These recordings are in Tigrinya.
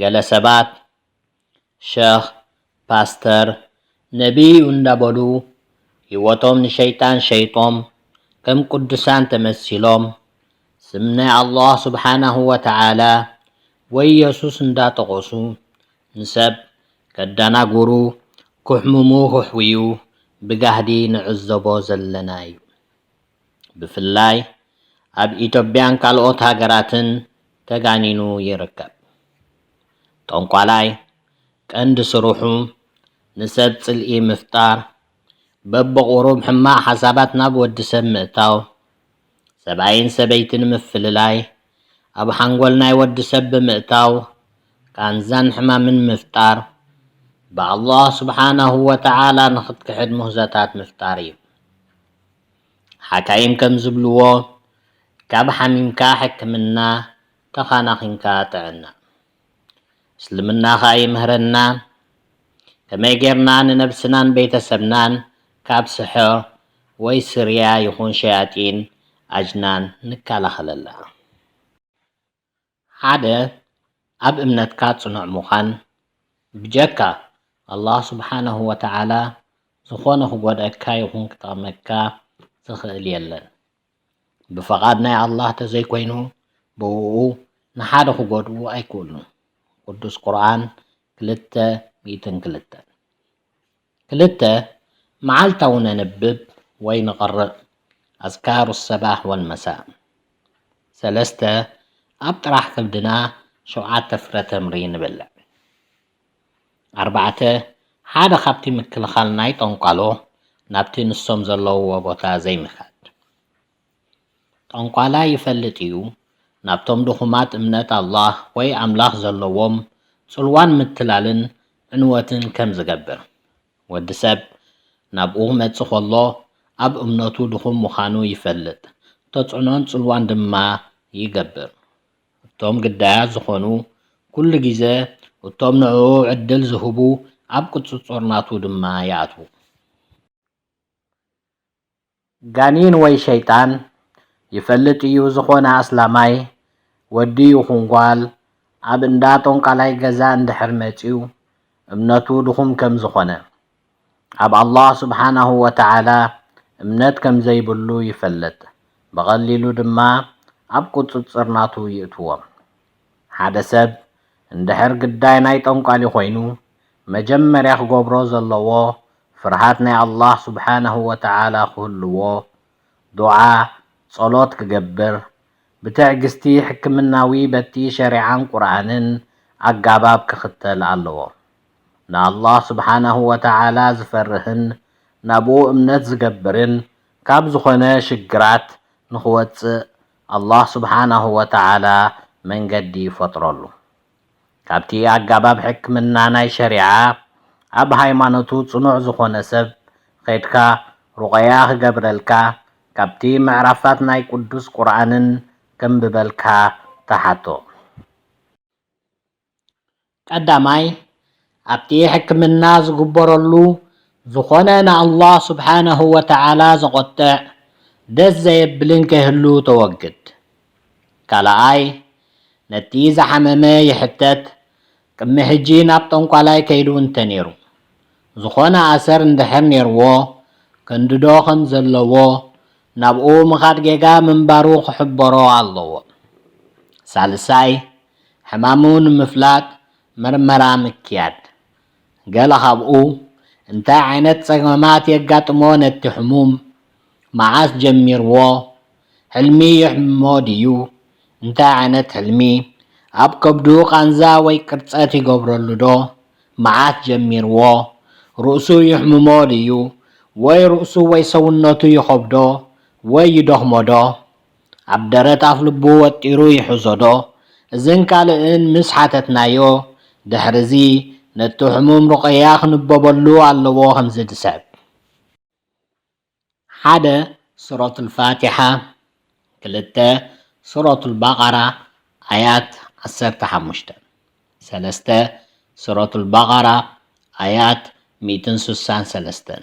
ገለ ሰባት ሸኽ፣ ፓስተር፣ ነቢይ እንዳበሉ ህይወቶም ንሸይጣን ሸይጦም ከም ቅዱሳን ተመሲሎም ስም ናይ ኣላህ ሱብሓነሁ ወተዓላ ወይ የሱስ እንዳጠቐሱ ንሰብ ከዳናግሩ ክሕምሙ ከሕውዩ ብጋህዲ ንዕዘቦ ዘለና'ዩ። ብፍላይ ኣብ ኢትዮጵያን ካልኦት ሃገራትን ተጋኒኑ ይርከብ። ጠንቋላይ ቀንዲ ስርሑ ንሰብ ጽልኢ ምፍጣር፣ በብቑሩብ ሕማቕ ሓሳባት ናብ ወዲ ሰብ ምእታው፣ ሰብኣይን ሰበይትን ምፍልላይ፣ ኣብ ሓንጎል ናይ ወዲ ሰብ ብምእታው ቃንዛን ሕማምን ምፍጣር፣ ብኣላህ ሱብሓነሁ ወተዓላ ንኽትክሕድ ምህዞታት ምፍጣር እዩ። ሓካይም ከምዝብልዎ ካብ ሓሚምካ ሕክምና ተኻናኺንካ ጥዕና። እስልምና ከኣ ይምህረና ከመይ ጌርና ንነብስናን ቤተሰብናን ካብ ስሕር ወይ ስርያ ይኹን ሸያጢን ኣጅናን ንከላኸለላ። ሓደ ኣብ እምነትካ ጽኑዕ ምዃን፣ ብጀካ ኣላህ ሱብሓነሁ ወተዓላ ዝኾነ ክጎድኣካ ይኹን ክጠቕመካ ዝኽእል የለን። ብፍቓድ ናይ ኣላህ ተዘይኮይኑ ብእኡ ንሓደ ክጎድኡ ኣይክእሉን፣ ቅዱስ ቁርኣን ክልተ ሚእትን ክልተን። ክልተ፣ መዓልታዊ ነንብብ ወይ ንቕርእ፣ ኣዝካሩ ሰባህ ወልመሳእ። ሰለስተ፣ ኣብ ጥራሕ ከብድና ሸውዓተ ፍረ ተምሪ ንበልዕ። ኣርባዕተ፣ ሓደ ካብቲ ምክልኻል ናይ ጠንቋሎ ናብቲ ንሶም ዘለውዎ ቦታ ዘይምኻድ። ጠንቋላ ይፈልጥ እዩ ናብቶም ድኹማት እምነት ኣላህ ወይ ኣምላኽ ዘለዎም ጽልዋን ምትላልን ዕንወትን ከም ዝገብር። ወዲ ሰብ ናብኡ ክመጽእ ከሎ ኣብ እምነቱ ድኹም ምዃኑ ይፈልጥ ተጽዕኖን ጽልዋን ድማ ይገብር። እቶም ግዳያት ዝኾኑ ኩሉ ግዜ እቶም ንዕኡ ዕድል ዝህቡ ኣብ ቁጽጽር ናቱ ድማ ይኣትዉ። ጋኒን ወይ ሸይጣን ይፈልጥ እዩ ዝኮነ ኣስላማይ ወዲ ይኩን ጓል ኣብ እንዳ ጦንቃላይ ገዛ እንድሕር መጽዩ እምነቱ ድኩም ከም ዝኮነ ኣብ ኣላህ ሱብሓናሁ ወተዓላ እምነት ከም ዘይብሉ ይፈልጥ ብቀሊሉ ድማ ኣብ ቁጽጽር ናቱ ይእትዎም ሓደ ሰብ እንድሕር ግዳይ ናይ ጠንቋሊ ኮይኑ መጀመርያ ክገብሮ ዘለዎ ፍርሃት ናይ ኣላህ ሱብሓነሁ ወተዓላ ክህልዎ፣ ዱዓ፣ ጸሎት፣ ክገብር፣ ብትዕግስቲ ሕክምናዊ በቲ ሸሪዓን ቁርኣንን ኣጋባብ ክኽተል ኣለዎ። ንኣላህ ሱብሓነሁ ወተዓላ ዝፈርህን ናብኡ እምነት ዝገብርን ካብ ዝኾነ ሽግራት ንኽወጽእ ኣላህ ሱብሓነሁ ወተዓላ መንገዲ ይፈጥረሉ። ካብቲ ኣጋባብ ሕክምና ናይ ሸሪዓ ኣብ ሃይማኖቱ ጽኑዕ ዝኾነ ሰብ ኸድካ ሩቀያ ክገብረልካ ካብቲ ምዕራፋት ናይ ቁዱስ ቁርኣንን ከንብበልካ ትሓቶ። ቀዳማይ ኣብቲ ሕክምና ዝግበረሉ ዝኾነ ንኣላህ ሱብሓነሁ ወተዓላ ዘቖጥዕ ደስ ዘየብልን ከይህሉ ተወግድ። ካልኣይ ነቲ ዝሓመመ ይሕተት ቅድሚ ሕጂ ናብ ጠንቋላይ ከይዱ እንተኔሩ ዝኾነ ኣሰር እንድሕር ኔርዎ ከንድዶ ከምዘለዎ ናብኡ ምኻድ ጌጋ ምንባሩ ክሕበሮ ኣለዎ። ሳልሳይ ሕማሙ ንምፍላጥ ምርመራ ምክያድ። ገለ ካብኡ እንታይ ዓይነት ጸገማት የጋጥሞ ነቲ ሕሙም፣ መዓስ ጀሚርዎ፣ ሕልሚ ይሕምሞ ድዩ፣ እንታይ ዓይነት ሕልሚ፣ ኣብ ከብዱ ቃንዛ ወይ ቅርጸት ይገብረሉ ዶ፣ መዓስ ጀሚርዎ፣ ርእሱ ይሕምሞ ድዩ ወይ ርእሱ ወይ ሰውነቱ ይኸብዶ ወይ ይደኽሞ ዶ። ኣብ ደረት ኣፍልቡ ወጢሩ ይሕዞዶ? እዝን ካልእን ምስ ሓተትናዮ፣ ድሕርዚ ነቲ ሕሙም ሩቕያ ክንበበሉ ኣለዎ ከምዚ ዝስዕብ። ሓደ፣ ሱረቱል ፋቲሓ፣ ክልተ፣ ሱረቱል በቐራ፣ ኣያት ዓሰርተ ሓሙሽተ፣ ሰለስተ፣ ሱረቱል በቐራ፣ ኣያት ሚእትን ሱሳን ሰለስተን።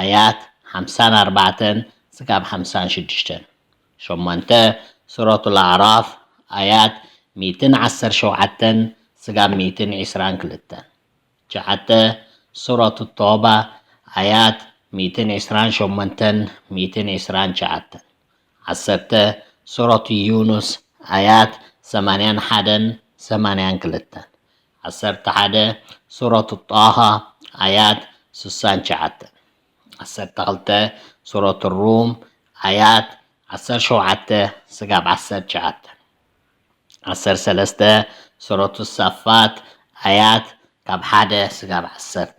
ኣያት ሓምሳን ኣርባዕተን ስጋብ ሓምሳን ሽዱሽተን፣ ሸሞንተ፣ ሱረቱል ኣዕራፍ ኣያት ሚእትን ዓሰርተ ሸውዓተን ስጋብ ሚእትን ዒስራን ክልተን፣ ትሽዓተ፣ ሱረቱ ተውባ ኣያት ሚእትን ዒስራን ሸሞንተን ሚእትን ዒስራን ትሽዓተን፣ ዓሰርተ፣ ሱረቱ ዩኑስ ኣያት ሰማንያን ሓደን ሰማንያን ክልተን፣ ዓሰርተ ሓደ ሱረቱ ጣሃ ኣያት ስሳን ትሽዓተን ዓሰርተ ክልተ ሱረቱ ሩም ኣያት ዓሰርተ ሸውዓተ ስጋብ ዓሰርተ ትሽዓተ ዓሰርተ ሰለስተ ሱረቱ ሳፋት ኣያት ካብ ሓደ ስጋብ ዓሰርተ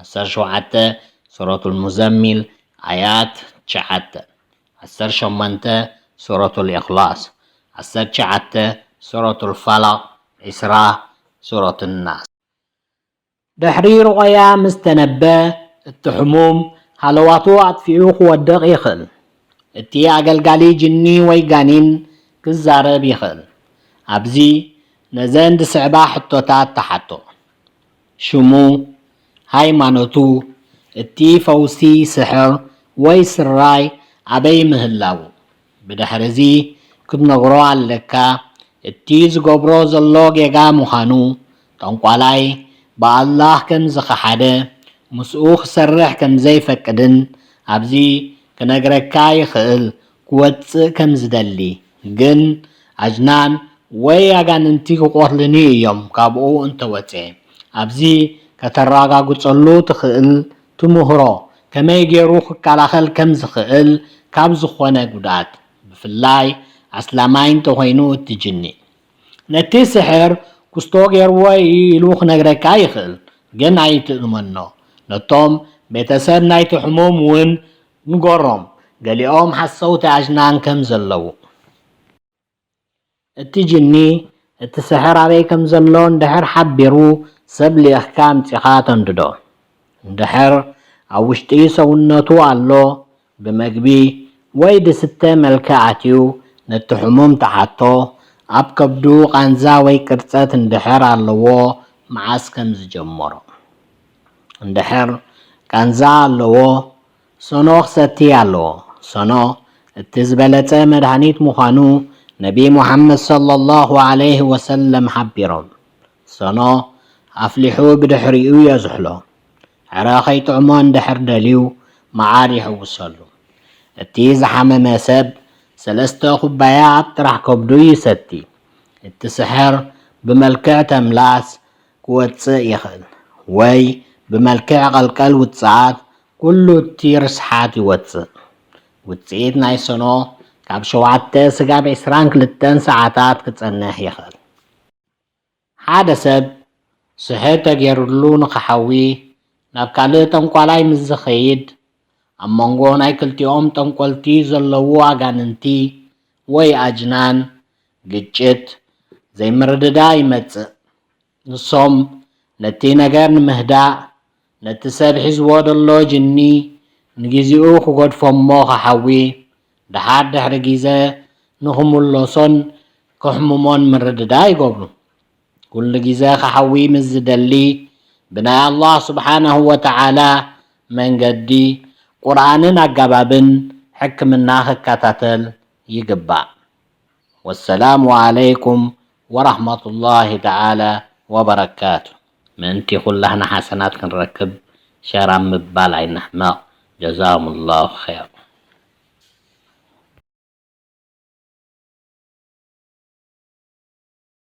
ዓሰርተ ሸውዓተ ሱረቱል ሙዘሚል ኣያት ትሽዓተ። ዓሰርተ ሸሞንተ ሱረቱል ኢኽላስ። ዓሰርተ ትሽዓተ ሱረቱል ፋላቕ። ዕስራ ሱረቱ ናስ። ድሕሪ ሩቕያ ምስ ተነበ እቲ ሕሙም ሃለዋቱ ኣጥፊኡ ክወድቕ ይኽእል። እቲ ኣገልጋሊ ጅኒ ወይ ጋኒን ክዛረብ ይኽእል። ኣብዚ ነዘን ዝስዕባ ሕቶታት ተሓቶ። ሽሙ፣ ሃይማኖቱ፣ እቲ ፈውሲ ስሕር ወይ ስራይ ኣበይ ምህላዉ፣ ብድሕሪ እዚ ክትነግሮ ኣለካ፣ እቲ ዝገብሮ ዘሎ ጌጋ ምዃኑ፣ ጠንቋላይ ብኣላህ ከም ዝኸሓደ፣ ምስኡ ክሰርሕ ከም ዘይፈቅድን ኣብዚ ክነግረካ ይኽእል ክወጽእ ከም ዝደሊ ግን ኣጅናን ወይ ኣጋንንቲ ክቆርልኒ እዮም ካብኡ እንተ ወጼ ኣብዚ ከተራጋግጸሉ ትክእል ትሙህሮ ከመይ ጌሩ ክካላከል ከም ዝክእል ካብ ዝኮነ ጉድኣት ብፍላይ ኣስላማይ እንተ ኮይኑ እቲ ጅኒ ነቲ ስሕር ኩስቶ ጌርዎ እዩ ኢሉ ክነግረካ ይክእል ግን ኣይትእመኖ ነቶም ቤተሰብ ናይቲ ሕሙም ውን ንገሮም ገሊኦም ሓሰውቲ ኣጅናን ከም ዘለዉ። እቲ ጂኒ እቲ ስሕር ኣበይ ከም ዘሎ እንድሕር ሓቢሩ ሰብ ሊእኽካ ኣምጺኻ ተንድዶ። እንድሕር ኣብ ውሽጢ ሰውነቱ ኣሎ ብመግቢ ወይ ብስተ መልክዕ ኣትዩ ነቲ ሕሙም ትሓቶ ኣብ ከብዱ ቃንዛ ወይ ቅርጸት እንድሕር ኣለዎ መዓስ ከም ዝጀመሮ። እንድሕር ቃንዛ ኣለዎ ሰኖ ክሰቲ ኣለዎ። ሰኖ እቲ ዝበለጸ መድሃኒት ምዃኑ ነቢ ሙሓመድ ሰለሏሁ ዓለይሂ ወሰለም ሓቢሮም። ሰኖ ኣፍሊሑ ብድሕሪኡዮ ዝሕሎ። ዕረ ከይጥዕሞ እንድሕር ደልዩ መዓር ይሕውሰሉ። እቲ ዝሓመመ ሰብ ሰለስተ ኩባያ ኣብ ጥራሕ ከብዱ ይሰቲ። እቲ ስሕር ብመልክዕ ተምላስ ክወጽእ ይኽእል ወይ ብመልክዕ ቐልቐል ውጽኣት ኩሉ እቲ ርስሓት ይወጽእ። ውጽኢት ናይ ሰኖ ካብ ሸውዓተ ስጋብ ዕስራን ክልተን ሰዓታት ክጸንሕ ይኽእል። ሓደ ሰብ ስሕር ተገይርሉ ንክሓዊ ናብ ካልእ ጠንቋላይ ምስ ዝኸይድ ኣብ መንጎ ናይ ክልቲኦም ጠንቆልቲ ዘለዉ ኣጋንንቲ ወይ ኣጅናን ግጭት፣ ዘይምርድዳእ ይመጽእ። ንሶም ነቲ ነገር ንምህዳእ ነቲ ሰብ ሒዝዎ ደሎ ጅኒ ንጊዚኡ ክጎድፎሞ ክሓዊ ድሓር ድሕሪ ጊዘ ንክሙሎሶን ከሕሙሞን ምርድዳእ ይገብሩ። ኩሉ ግዘ ክሓዊ ምስ ዝደሊ ብናይ ኣላህ ሱብሓነሁ ወተዓላ መንገዲ፣ ቁርኣንን ኣጋባብን ሕክምና ክከታተል ይግባእ። ወሰላሙ ዓለይኩም ወራህመቱላሂ ተዓላ ወበረካቱ። ምእንቲ ኩላህና ሓሰናት ክንረክብ ሸር ኣብ ምባል ኣይንሕመቕ ጀዛሁሙላሁ ኼር።